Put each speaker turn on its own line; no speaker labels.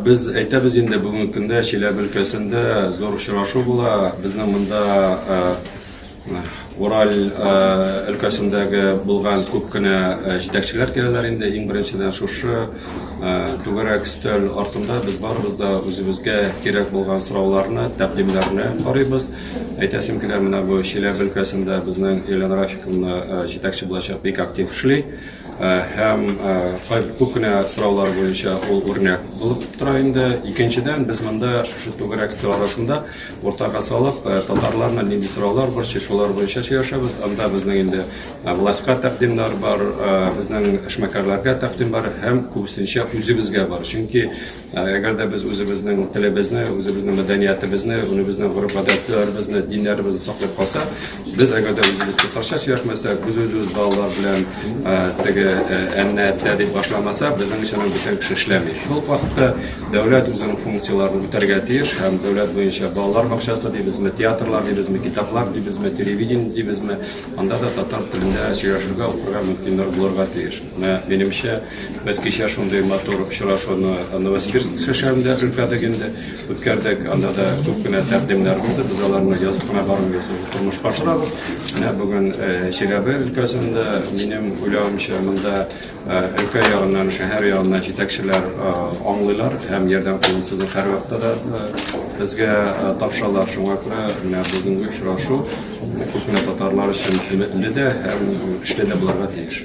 Без әйтәбез инде бүгенге көндә Чиләбе өлкәсендә зур очрашу була. Безнең монда Ураль өлкәсендәге булган күп кенә җитәкчеләр киләләр инде. Иң беренчедән шушы түгәрәк өстәл артында без барыбыз да үзебезгә кирәк булган сорауларны, тәкъдимнәрне карыйбыз. Әйтәсем килә, менә бу Чиләбе өлкәсендә безнең Елена Рафиковна җитәкче булачак, бик актив эшли. Һәм күп кенә сораулар буенча ул үрнәк булып тора инде. Икенчедән, без монда шушы түгәрәк өстәл арасында уртага салып, э, татарларны нинди сораулар борчый, шулар буенча сөйләшәбез. Анда безнең инде э, властька тәкъдимнәр бар, э, безнең эшмәкәрләргә тәкъдим бар һәм күбесенчә үзебезгә бар. Чөнки әгәр дә без үзебезнең телебезне, үзебезнең мәдәниятебезне, үзебезнең гореф-гадәтләребезне, диннәребезне саклап калсак, Без әгәр дә үзебез татарча сөйләшмәсәк, без үзебез балалар белән теге әннә әттә дип башламаса, безнең өчен бүтән кеше эшләми. Шул вакытта дәүләт үзенең функцияләрен үтәргә тиеш һәм дәүләт буенча балалар бакчасы дибезме, театрлар дибезме, китаплар дибезме, телевидение дибезме, анда да татар телендә сөйләшергә, укырга мөмкинлек булырга тиеш. Менә минемчә, без кичә шундый матур очрашуны Новосибирск шәһәрендә үткәрдек инде. Үткәрдек, анда да күп кенә тәкъдимнәр булды. Без аларны язып кына бармыйбыз, тормышка ашырабыз. Менә бүген э, Чиләбе өлкәсендә, минем уйлавымча, монда э, өлкә ягыннан, шәһәр ягыннан җитәкчеләр э, аңлыйлар һәм ярдәм кулын сузып һәрвакытта да безгә тапшыралар. Шуңа күрә менә бүгенге очрашу күп кенә татарлар өчен өметле дә һәм көчле дә булырга тиеш.